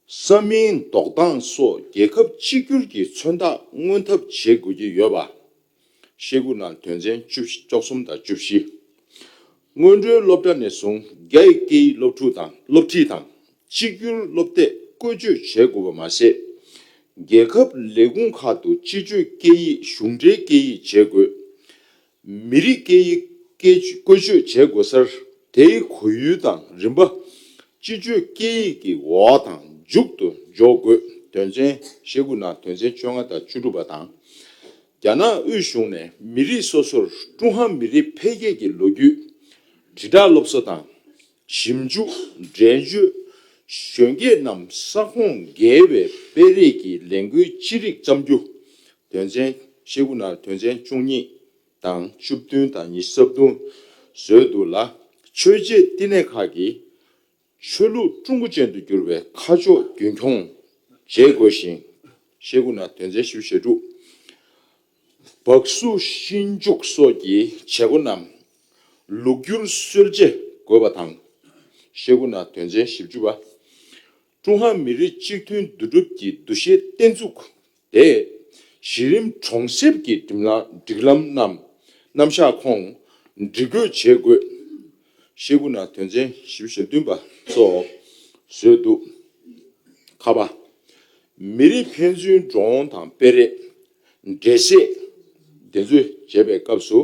ས་མིང་འདོགས་སྟངས་སོགས་རྒྱལ་ཁབ་གཅིག་གྱུར་གྱི་མཚོན་རྟགས་མངོན་ཐབས་བྱེད་དགོས་ཀྱི་ཡོད་པ། ཤེལ་སྒོ་ནང་དོན་ཚན་བཅུ་བཞི་བཅུ་གསུམ་དང་བཅུ་བཞི། སྔོན་འགྲོའི་སློབ་གྲྭ་ནས་བཟུང་རྒྱ་ཡི་སྐད་ཡིག་སློབ་ཕྲུག་དང་སློབ་ཁྲིད་དང་གཅིག་གྱུར་སློབ་དེབ་བཀོལ་སྤྱོད་བྱེད་དགོས་པ་མ་ཟད། རྒྱལ་ཁབ་ལས་ཁུངས་ཁག་ཏུ་སྤྱི་སྤྱོད་སྐད་ཡིག་གཞུང་འབྲེལ་སྐད་ཡིག་བྱེད་དགོས། མི་རིགས་སྐད་ཡིག་བཀོལ་སྤྱོད་བྱེད་དགོས་སར་དེའི་གོ་ཡུལ་དང་རིམ་པ། སྤྱི་སྤྱོད་སྐད་ཡིག་གི་འོག་དང་མཇུག་ཏུ་འཇོག་དགོས་དོན་ཚན་ཞེ་དགུ་ནང་དོན་ཚན་བཅོ་ལྔ་དང་བཅུ་དྲུག་པ་དང། རྒྱ་ནག་དབུས་གཞུང་ནས་མི་རིགས་སོ་སོར་ཀྲུང་ཧྭ་མི་རིགས་འཕེལ་རྒྱས་ཀྱི་ལོ་རྒྱུས་དྲིལ་བསྒྲགས་སློབ་གསོ་དང། ཞིབ་འཇུག་འགྲན་བརྗོད་གཞོན་སྐྱེས་རྣམས་ས་ཁོངས་བརྒལ་བའི་སྤེལ་རེས་ཀྱི་ལས་འགུལ་ཅི་རིགས་བརྩམ་རྒྱུ། དོན་ཚན་ཤེལ་སྒོ་ནང་དོན་ཚན་བཅུ་གཉིས་དང་བཅུ་བདུན་དང་ཉི་ས་བདུན་བཟོས་འདུག་ལ། ཆོས་རྗེ་བསྟི་གནས་ཁག་གིས་ཆོས་ལུགས་ཀྲུང་གོ་ཅན་དུ་བསྒྱུར་བའི་ཁ་ཕྱོགས་རྒྱུན་འཁྱོངས་བྱེད་དགོས་ཤིང། ཤེལ་སྒོ་ནང་དོན་ཚན་བཞི་བཞི་དྲུག། སྦག་བསུ་གཤིན་རྒྱུག་སོགས་ཀྱི་བྱེད་སྒོ་རྣམས་ལུགས་བསྒྱུར་སྲོལ་འབྱེད་དགོས་པ་དང། ཤེལ་སྒོ་ན་དོན་ཚན་བཞི་བཅུ་པ། ཀྲུང་ཧྭ་མི་རིགས་གཅིག་མཐུན་འདུས་གྲུབ་ཀྱི་འདུ་ཤེས་བརྟན་བཙུགས་ཏེ། གཞི་རིམ་གྲོང་གསེབ་ཀྱི་སྒྲིག་ལམ་རྣམས་རྣམ་གཞག་ཁོངས་སྒྲིག་སྒོས་བྱེད་དགོས། ཤེལ་སྒོ་ན་དོན་ཚན་བཞི་བཞི་བདུན་པ་སོགས་བཟོས་འདུག་ཁ་པ། མི་རིགས་ཕན་ཚུན་འགྲོ་འོང་དང་སྤེལ་རེས། འགྲེལ་བཤད་འདི་ཚོད་བྱེད་པའི་སྐབས་སུ་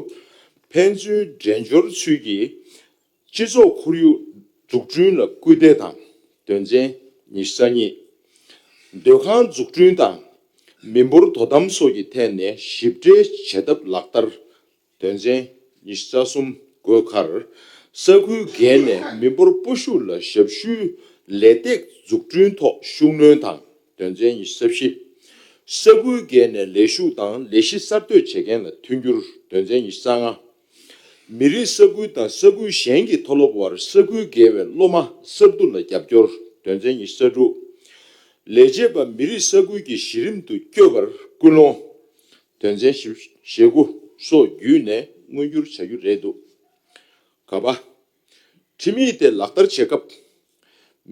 ཕན་ཚུན་འགྲན་སྦྱོར་ཚུལ་གྱིས་སྤྱི་ཚོགས་ཁོར་ཡུག་འཛུགས་སྐྲུན་ལ་སྐུལ་འདེད་དང་དོན་ཚན་ཉི་ཤུ་རྩ་གཉིས། སྡོད་ཁང་འཛུགས་སྐྲུན་དང་མི་འབོར་དོ་དམ་སོགས་ཀྱི་ཐད་ནས་ཞིབ་ཕྲའི་བྱེད་ཐབས་ལག་བསྟར་དོན་ཚན་ཉི་ཤུ་རྩ་གསུམ་དགོས་ཁར། ས་ཁུལ་བརྒལ་ནས་མི་འབོར་སྤོ་ཤུགས་ལ་ཞབས་ཞུའི་ལས་སྟེགས་འཛུགས་སྐྲུན་ཐོག་ཤུགས་སྣོན་དང་དོན་ཚན་ཉི་ཤུ་རྩ་བཞི། ས་ཁུལ་བརྒལ་ནས་ལས་ཞུགས་དང་ལས་གཞི་གསར་གཏོད་བྱེད་མཁན་ལ་མཐུན་འགྱུར་དོན་ཚན་ཉི་ཤུ་རྩ་ལྔ། མི་རིགས་ས་ཁུལ་དང་ས་ཁུལ་གཞན་གྱི་མཐོ་སློབ་བར་ས་ཁུལ་བརྒལ་བའི་སློབ་མ་གསར་བསྡུ་ལ་རྒྱབ་སྐྱོར་དོན་ཚན་ཉི་ཤུ་རྩ་དྲུག། ལས་བྱེད་པ་མི་རིགས་ས་ཁུལ་གྱི་གཞི་རིམ་དུ་སྐྱོད་པར་སྐུལ་སློང། དོན་ཚན་བཞི་ཞེ་དགུ་སོགས་བརྒྱུད་ནས་མངོན་འགྱུར་བྱ་རྒྱུ་རེད་འདུག་ག་པ། ཁྲིམས་ཡིག་དེ་ལག་བསྟར་བྱེད་སྐབས།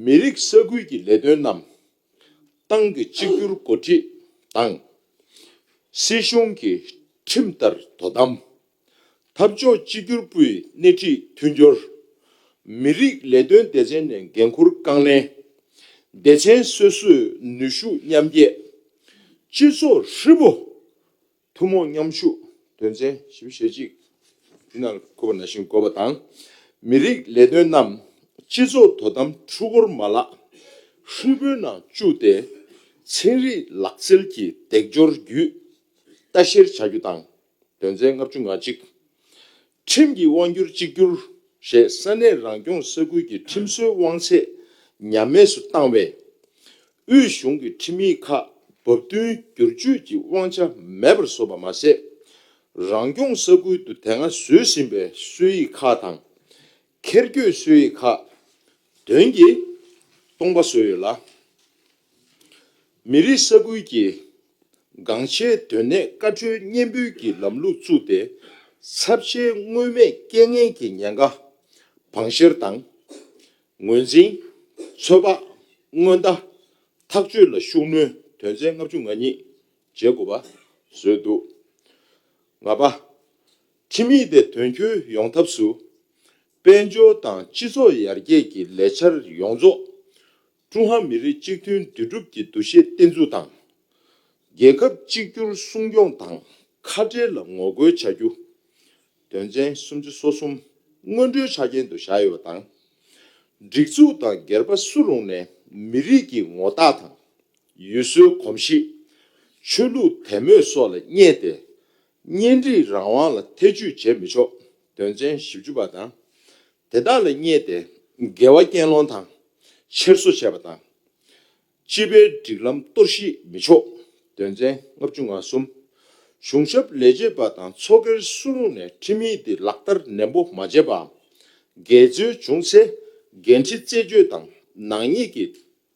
མི་རིགས་ས་ཁུལ་གྱི་ལས་དོན་རྣམས་ཏང་གི་གཅིག་གྱུར་འགོ་ཁྲིད་དང། སྲིད་གཞུང་གི་ཁྲིམས་ལྟར་དོ་དམ། འཐབ་ཕྱོགས་གཅིག་གྱུར་པུའི་སྣེ་ཁྲིད་མཐུན་སྦྱོར། མི་རིགས་ལས་དོན་སྡེ་ཚན་ནས་འགན་འཁུར་རྐང་ལེན། སྡེ་ཚན་སོ་སོས་ནུས་ཤུགས་མཉམ་སྐྱེད། སྤྱི་ཚོགས་ཧྲིལ་པོ་ཐུན་མོང་མཉམ་ཤུགས་དོན་ཚན་ཞེ་བཞི་ཞེ་གཅིག་འདི་ནང་འཁོད་པ་ནང་བཞིན་འགོད་པ་དང། མི་རིགས་ལས་དོན་རྣམས་སྤྱི་ཚོགས་དོ་དམ་ཧྲིལ་བོར་མ་ལག་ཧྲིལ་པོའི་ནང་བཅུག་སྟེ། ཚན་རིག་ལག་རྩལ་གྱི་འདེགས་སྐྱོར་བརྒྱུད་ལྟ་བཤེར་བྱ་རྒྱུ་དང། དོན་ཚན་ལྔ་བཅུ་ང་གཅིག། ཁྲིམས་ཀྱི་དབང་སྒྱུར་གཅིག་གྱུར་ཞེས་ས་གནས་རང་སྐྱོང་ས་ཁུལ་གྱི་ཁྲིམས་བཟོའི་དབང་ཚད་ཉམས་དམས་སུ་བཏང་བས། དབུས་གཞུང་གི་ཁྲིམས་ཡིག་ཁག་བབ་བསྟུན་སྒྱུར་བཅོས་ཀྱི་དབང་ཆ་མེད་པར་བཟོ་བ་མ་ཟད། རང་སྐྱོང་ས་ཁུལ་དུ་དེ་སྔ་བཟོས་ཟིན་པའི་སྲོལ་ཡིག་ཁག་དང། ཁེར་སྐྱོད་སྲོལ་ཡིག་ཁག་དོན་གྱིས་སྟོང་པ་བཟོས་ཡོད་ལ། མི་རིགས་ས་ཁུལ་གྱི་འགངས་ཆེའི་དོན་གནད་བཀའ་འཁྲོལ་སྙན་འབུལ་གྱི་ལམ་ལུགས་བཙུགས་ཏེ་ཚབས་ཆེའི་མངོན་མེད་རྐྱེན་ངན་གྱི་ཉེན་ཁ་བང་བཤེར་དང། ངོས་འཛིན། ཚོད་དཔག། སྔོན་བརྡ། ཐག་གཅོད་ལ་ཤུགས་སྣོན་དོན་ཚན་ལྔ་བཅུ་ང་གཉིས་བརྒྱད་དགུ་པ་བཟོས་འདུག་ལྔ་པ། ཁྲིམས་ཡིག་དེ་དོན་འཁྱོལ་ཡོང་ཐབས་སུ། དཔལ་འབྱོར་དང་སྤྱི་ཚོགས་ཡར་རྒྱས་ཀྱི་ལས་འཆར་ཡོངས་རྫོགས། ཀྲུང་ཧྭ་མི་རིགས་གཅིག་མཐུན་འདུས་གྲུབ་ཀྱི་འདུ་ཤེས་བརྟན་འཛུགས་དང། རྒྱལ་ཁབ་གཅིག་གྱུར་སྲུང་སྐྱོང་དང་ཁ་ཕྲལ་ལ་ངོ་རྒོལ་བྱ་རྒྱུ། དོན་ཚན་སུམ་ཅུ་སོ་གསུམ་སྔོན་འགྲོའི་ཆ་རྐྱེན་དུ་བཞག་ཡོད་པ་དང། སྒྲིག་འཛུགས་དང་སྒེར་པ་སུ་རུང་ནས་མི་རིགས་ཀྱི་ངོ་རྟགས་དང། ཡུལ་སྲོལ་གོམས་གཤིས། ཆོས་ལུགས་དད་མོས་སོགས་ལ་བསྙད་དེ། གཉེན་སྒྲིག་རང་དབང་ལ་ཐེ་བྱུས་བྱེད་མི་ཆོག་དོན་ཚན་བཞི་བཅུ་པ་དང་དེ་དག་ལ་བསྙད་དེ་འགལ་བ་རྐྱེན་སློང་དང་འཁྱེར་སོ་བྱས་པ་དང། སྤྱི་པའི་སྒྲིག་ལམ་གཏོར་བཤིག་མི་ཆོག་དོན་ཚན་ལྔ་བཅུ་ང་གསུམ། གཞུང་ཞབས་ལས་བྱེད་པ་དང་ཚོགས་སྒེར་སུ་རུང་ནས་ཁྲིམས་ཡིག་འདི་ལག་བསྟར་ནན་པོ་མ་བྱས་པའམ་འགལ་འཛོལ་བྱུང་ཚེ་འགན་འཁྲི་རྩད་གཅོད་དང་ནག་ཉེས་ཀྱི་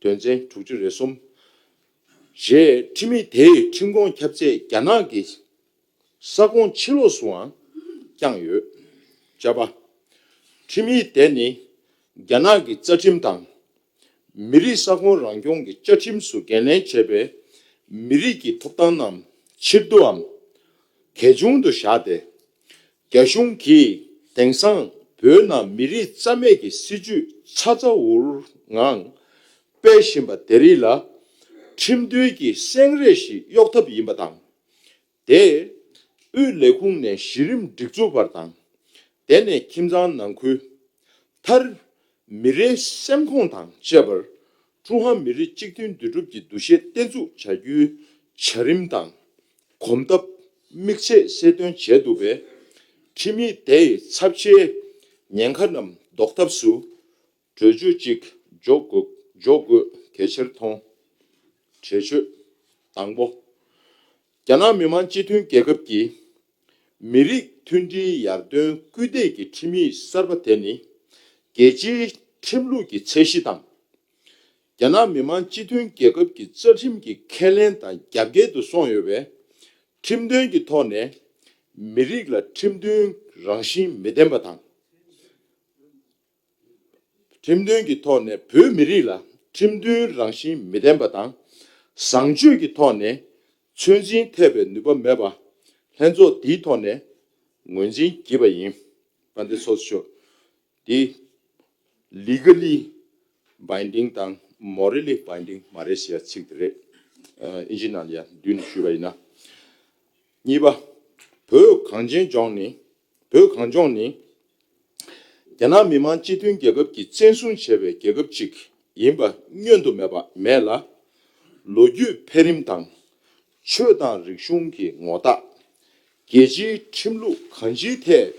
དོན་ཚན་དྲུག་ཅུ་རེ་གསུམ། བཞི། ཁྲིམས་མི་དེས་ཁྲིམས་ཁོངས་ཁྱབ་ཚད་རྒྱ་ནག་གི་ས་ཁོངས་ཕྱི་ལོགས་སུའང་བསྐྱངས་ཡོད། བཅའ་བ། ཁྲིམས་མི་དེ་ནི་རྒྱ་ནག་གི་རྩ་ཁྲིམས་དང། མི་རིགས་ས་ཁོངས་རང་སྐྱོང་གི་བཅའ་ཁྲིམས་སུ་འགན་ལེན་བྱས་པའི་མི་རིགས་ཀྱི་ཐོབ་ཐང་རྣམས་ཕྱིར་བསྡུའམ་གལ་ཆུང་དུ་བཞག་སྟེ་རྒྱ་གཞུང་གིས་དེང་སང་བོད་ནང་མི་རིགས་རྩ་མེད་ཀྱི་སྲིད་ཇུས་ཆ་ཚ་འུར་འུར་ངང་སྤེལ་བཞིན་པ་དེ་རིགས་ལ་ཁྲིམས་མཐུན་གྱི་སེང་རས་ཤིག་གཡོག་ཐབས་ཡིན་པ་དང། དེས་དབུས་ལས་ཁུངས་ནས་གཞི་རིམ་སྒྲིག་འཛུགས་བར་དང། དེ་ནས་ཁྱིམ་ཚང་ནང་ཁུལ། མཐར་མི་རེའི་སེམས་ཁོངས་དང་བཅས་པར་ཀྲུང་ཧྭ་མི་རིགས་གཅིག་མཐུན་འདུས་གྲུབ་ཀྱི་འདུ་ཤེས་བརྟན་ཚུགས་བྱ་རྒྱུའི་བྱ་རིམ་དང་གོམ་སྟབས་དམིགས་ཚད་གསལ་སྟོན་བྱས་འདུག་པས། ཁྲིམས་ཡིག་དེའི་ཚབས་ཆེའི་ཉེན་ཁ་རྣམས་ཟློག་ཐབས་སུ་གྲོས་ཆོད་ཅིག་འཇོག་དགོས་གལ་ཆེར་མཐོང། གྲོས་ཆོད་དང་པོ། རྒྱ་ནག་མི་དམངས་སྤྱི་མཐུན་རྒྱལ་ཁབ་ཀྱིས་མི་རིགས་མཐུན་སྒྲིལ་ཡར་ཐོན་སྐུལ་འདེད་ཀྱི་ཁྲིམས་ཡིག་གསར་པ་དེ་ནི་རྒྱལ་སྤྱིའི་ཁྲིམས་ལུགས་ཀྱི་ཚད་གཞི་དང། རྒྱ་ནག་མི་དམངས་སྤྱི་མཐུན་རྒྱལ་ཁབ་ཀྱི་རྩ་ཁྲིམས་ཀྱི་ཁས་ལེན་དང་རྒྱབ་འགལ་དུ་སོང་ཡོད་པས། ཁྲིམས་དོན་གྱི་ཐོག་ནས་མི་རིགས་ལ་ཁྲིམས་མཐུན་རང་བཞིན་མི་ལྡན་པ་དང། ཁྲིམས་མཐུན་གྱི་ཐོག་ནས་བོད་མི་རིགས་ལ་ཁྲིམས་མཐུན་རང་བཞིན་མི་ལྡན་པ་དང། བཟང་སྤྱོད་ཀྱི་ཐོག་ནས་ཚོད་འཛིན་ཐེབས་པའི་ནུས་པ་མེད་པ། ལྷན་ཚོགས་འདིའི་ཐོག་ནས་ངོས་འཛིན་བགྱིས་པ་ཡིན། བཀའ་འདི་ཚོགས་ཆོས་འདི Legally Binding དང Morally Binding མ་རེད་ཞེས་ཚིག་དེ་རེད། ཨིན་ཇི་ནཱ་ལི་ཡ་འདུས་ནས་ཞུས་པ་ཡིན། གཉིས་པ། བོད་གངས་ཅན་ལྗོངས་ནི་བོད་གངས་ལྗོངས་ནི། རྒྱ་ནག་མི་དམངས་སྤྱི་མཐུན་རྒྱལ་ཁབ་ཀྱིས་བཙན་བཟུང་བྱས་པའི་རྒྱལ་ཁབ་ཅིག་ཡིན་པ་བསྙོན་དུ་མེད་པ་མེད་ལ། ལོ་རྒྱུས་འཕེལ་རིམ་དང། ཆོས་དང་རིག་གཞུང་གི་ངོ་རྟགས། རྒྱལ་སྤྱིའི་ཁྲིམས་ལུགས་གང་ཅིའི་ཐད་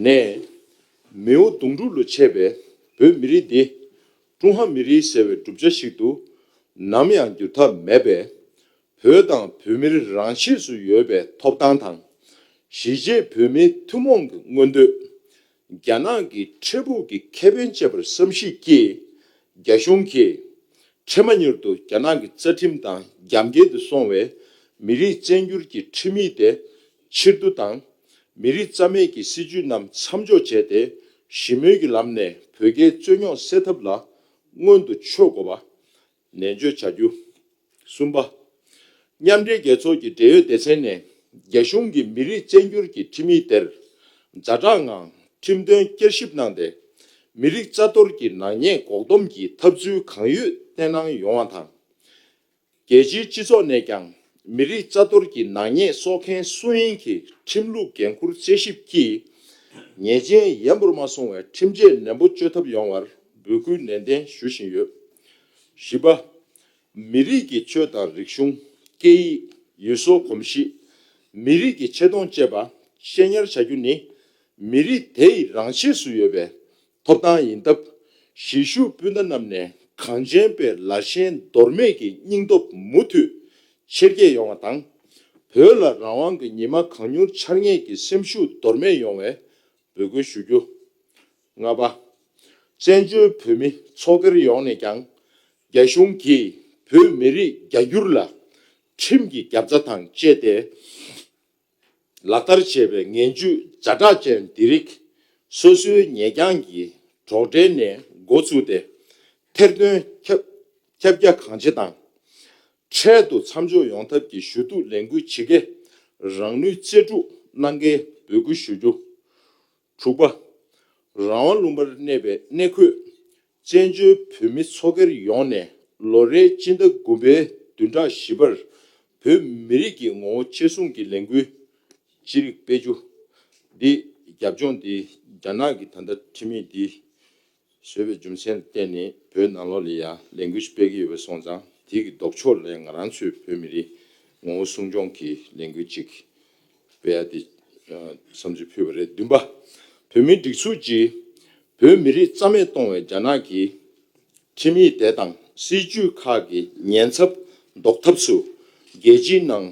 ནས། མིའུ་གདུང་དྲུག་ལོ་ཆད་པའི་བོད་མི་རིགས་འདི། ཀྲུང་ཧྭ་མི་རིགས་ཟེར་བའི་གྲུབ་ཆ་ཞིག་ཏུ་ནམ་ཡང་འགྱུར་ཐབས་མེད་པས། བོད་དང་བོད་མིར་རང་ཆས་སུ་ཡོད་པའི་ཐོབ་ཐང་དང། གཞིས་བྱེས་བོད་མིའི་ཐུན་མོང་གི་མངོན་འདོད། རྒྱ་ནག་གི་འཕྲལ་ཕུགས་ཀྱི་ཁེ་ཕན་བཅས་པར་བསམ་གཞིགས་ཀྱིས། རྒྱ་གཞུང་གིས་འཕྲལ་མ་མྱུར་དུ་རྒྱ་ནག་གི་རྩ་ཁྲིམས་དང་རྒྱབ་འགལ་དུ་སོང་བའི་མི་རིགས་བཙན་བསྒྱུར་གྱི་ཁྲིམས་ཡིག་དེ་ཕྱིར་བསྡུ་དང། མི་རིགས་རྩ་མེད་ཀྱི་སྲིད་ཇུས་རྣམས་མཚམས་འཇོག་བྱས་ཏེ་ཞི་མོལ་གྱི་ལམ་ནས་བོད་རྒྱའི་རྩོད་རྙོག་སེལ་ཐབས་ལ་སྔོན་དུ་ཆོད་དགོས་པ། ནན་བརྗོད་བྱ་རྒྱུ། གསུམ་པ། མཉམ་འབྲེལ་རྒྱལ་ཚོགས་ཀྱི་འབྲེལ་ཡོད་སྡེ་ཚན་ནས་རྒྱ་གཞུང་གིས་མི་རིགས་བཅད་འགྱུར་གྱི་ཁྲིམས་ཡིག་དེར་ཛ་དྲག་ངང་ཁྲིམས་དོན་བསྐྱར་ཞིབ་གནང་སྟེ། མི་རིགས་རྩ་གཏོར་གྱི་ནག་ཉེས་འགོག་སྡོམ་གྱི་ཐབས་ཚུལ་གང་ཡོད་བསྟན་གནང་ཡོང་བ་དང། རྒྱལ་སྤྱིའི་སྤྱི་ཚོགས་ནས་ཀྱང་མི་རིགས་རྩ་གཏོར་གྱི་ནག་ཉེས་གསོག་མཁན་སུ་ཡིན་གྱི་ཁྲིམས་ལུགས་འགན་འཁུར་དཔྱད་ཞིབ་ཀྱིས་ཉེས་ཅན་ཡན་པོར་མ་སོང་བའི་ཁྲིམས་ཆད་ནན་པོ་གཅོད་ཐབས་ཡོང་བར་འབོད་སྐུལ་ནན་ཏན་ཞུ་བཞིན་ཡོད། བཞི་པ། མི་རིགས་ཀྱི་ཆོས་དང་རིག་གཞུང། སྐད་ཡིག། ཡུལ་སྲོལ་གོམས་གཤིས། མི་རིགས་ཀྱི་ཆེ་མཐོང་བཅས་པ་ཤེས་ཉར་བྱ་རྒྱུ་ནི། མི་རིགས་དེའི་རང་ཆས་སུ་ཡོད་པའི་ཐོབ་ཐང་ཡིན་སྟབས། གཞིས་བཞུགས་སྤུན་ཟླ་རྣམས་ནས་གངས་ཅན་པའི་ལ་ཞེན་འདོར་མེད་ཀྱི་སྙིང་སྟོབས་མུ་མཐུད་ཆེར་སྐྱེད་ཡོང་བ་དང། བོད་ལ་རང་དབང་གི་ཉི་མ་གང་མྱུར་འཆར་ངེས་ཀྱི་སེམས་ཤུགས་འདོར་མེད་ཡོང་བའི་འབོད་སྐུལ་ཞུ་རྒྱུ། ལྔ་པ། བཙན་བྱོལ་བོད་མི་ཚོགས་སྒེར་ཡོངས་ནས་ཀྱང་རྒྱ་གཞུང་གིས་བོད་མི་རིགས་རྒྱ་སྒྱུར་ལ་ཁྲིམས་ཀྱི་རྒྱབ་རྩ་དང་བཅས་ཏེ་ལག་བསྟར་བྱས་པའི་ངན་ཇུས་རྫ་དྲག་ཅན་འདི་རིགས་སོ་སོའི་ཉེ་རྒྱང་གི་གྲོགས་འབྲེལ་ནས་འགོ་བཙུགས་ཏེ་ཐེར་འདོན་ཁྱབ་རྒྱ་གང་ཆེ་དང། འཕྲལ་དུ་མཚམས་འཇོག་ཡོང་ཐབས་ཀྱི་ཞུ་གཏུག་ལས་འགུལ་ཇི་དགེ་རང་ནུས་རྩལ་སྤྲུགས་གནང་གལ་འབོད་སྐུལ་ཞུ་རྒྱུ། དྲུག་པ། རང་དབང་ལུང་པར་གནས་པའི་གནས་འཁོད་བཙན་བྱོལ་བོད་མི་ཚོགས་སྒེར་ཡོངས་ནས་ལོ་རེའི་སྤྱི་ཟླ་དགུ་པའི་བདུན་ཕྲག་བཞི་པར་བོད་མི་རིགས་ཀྱི་ངོ་བོ་གཅེས་སྲུང་གི་ལས་འགུལ་ཅི་རིགས་སྤེལ་རྒྱུ། འདི་རྒྱབ་ལྗོངས་འདི་རྒྱ་ནག་གི་ད་ལྟ་ཁྲིམས་མེད་འདི་བཟོས་པའི་རྒྱུ་མཚན་ལ་བརྟེན་ནས་བོད་ནང་ལོགས་ལས་ཡ་ལན་གུས་སྤེལ་གྱི་ཡོད་པའི་སོང་ཙང་དེ་གི་ལྡོག་ཕྱོགས་ལས་ང་རང་ཚོའི་བོད་མི་རིགས་ངོ་བོ་སྲུང་སྐྱོང་གི་ལན་གུས་ཅིག་སྤེལ་ཡ་དེ་བསམ་ཚུལ་ཕུལ་བ་རེད་བདུན་པ། བོད་མིའི་སྒྲིག་འཛུགས་ཀྱིས་བོད་མི་རིགས་རྩ་མེད་གཏོང་བའི་རྒྱ་ནག་གི་ཁྲིམས་ཡིག་དེ་དང་སྲིད་ཇུས་ཁག་གི་ཉེན་ཚབ་ཟློག་ཐབས་སུ་རྒྱལ་སྤྱིའི་ནང་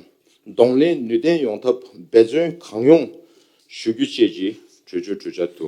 གདོང་ལེན་ནུས་ལྡན་ཡོང་ཐབས་འབད་བརྩོན་གང་ཡོང་ཞུ་རྒྱུ་བཅས་ཀྱི་གྲོས་ཆོད་གྲོས་འཆར་དུ